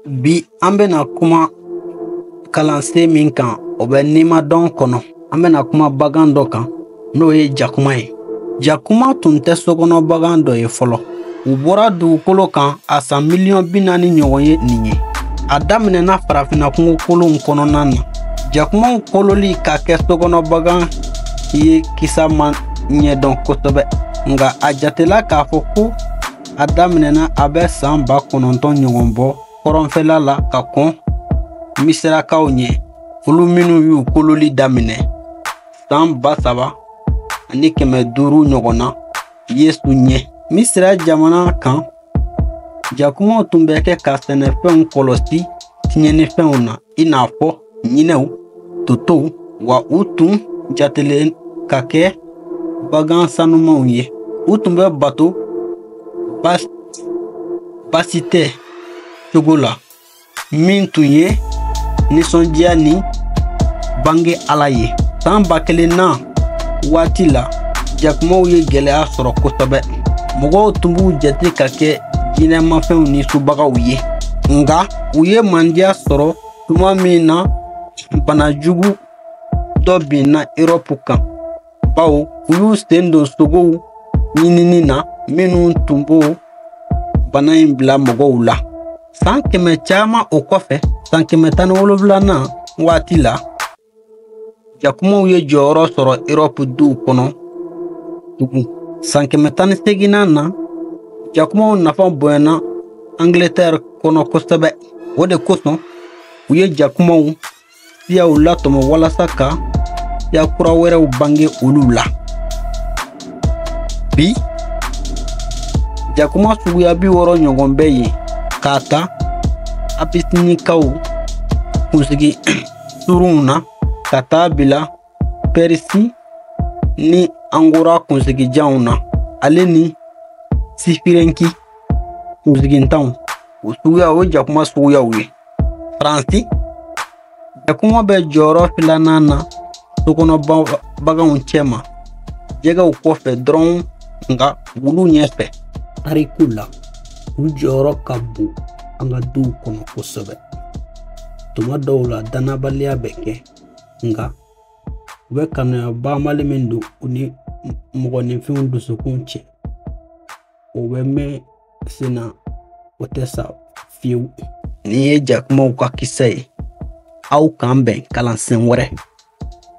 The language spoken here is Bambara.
bi an bɛna kuma kalansen min kan o bɛ nimadɔn kɔnɔ an bɛna kuma bagan dɔ kan n'o ye jakuma ye jakuma tun tɛ sokɔnɔ bagan dɔ ye fɔlɔ u bɔra dugukolo kan a san miliyɔn bi naani ɲɔgɔn ye nin ye a daminɛna farafinna kungo kolonw kɔnɔna na jakumaw kololi ka kɛ sokɔnɔ bagan ye kisa ma ɲɛdɔn kosɛbɛ nka a jatela k'a fɔ ko a daminɛna a bɛ san ba kɔnɔntɔn ɲɔgɔn bɔ kɔrɔnfɛla la ka kɔn misirakaw ɲɛ olu minnu y'u kololi daminɛ san ba saba ani kɛmɛ duuru ɲɔgɔn na yesu ɲɛ misira jamana kan jakumaw tun bɛ kɛ ka sɛnɛfɛnw kɔlɔsi tiɲɛnifɛnw na i n'a fɔ ɲinɛw totow wa u tun jatelen ka kɛ bagan sanumanw ye u tun bɛ bato basitɛ cogo la min tun ye nisɔndiya ni bange ala ye san ba kelennan waati la jakumaw ye gɛlɛya sɔrɔ kosɛbɛ mɔgɔw tun b'u jate ka kɛ jinɛmafɛnw ni subagaw ye nka u ye mandiya sɔrɔ tuma min na bana jugu dɔ binna erɔpu kan bawo u y'u sen don sogow ɲinini na minnu tun b'o bana in bila mɔgɔw la san kɛmɛ caman o kɔfɛ san kɛmɛ tan ni wolonwulanan waati la jakumaw ye jɔyɔrɔ sɔrɔ erɔpu duw kɔnɔ tugun san kɛmɛ tan ni seginnan na jakumaw nafa bonyana angletɛri kɔnɔ kosɛbɛ o de kosɔn u ye jakumaw siyaw latɔmɔ walasa ka siya kura wɛrɛw bange olu la bi jakuma suguya bi wɔɔrɔ ɲɔgɔn bɛ yen k'a ta abisinikaw kunsigi surunw na ka taa bila Pɛrisi ni Angora kunsigijanw na ale ni Sifirenki kunsigintanw o suguya o ye jakuma suguyaw ye Faransi jakuma bɛ jɔyɔrɔ filanan na sokɔnɔ baganw cɛma jɛgɛw kɔfɛ dɔrɔn nka wulu ɲɛfɛ tariku la u jɔyɔrɔ ka bon an ka duw kɔnɔ kosɛbɛ tuma dɔw la dannabaliya bɛ kɛ nka u bɛ kanuya banbali min don u ni mɔgɔninfinw dusukun cɛ o bɛ mɛn sen na o tɛ sa fiyewu nin ye jakumaw ka kisa ye aw k'an bɛn kalansen wɛrɛ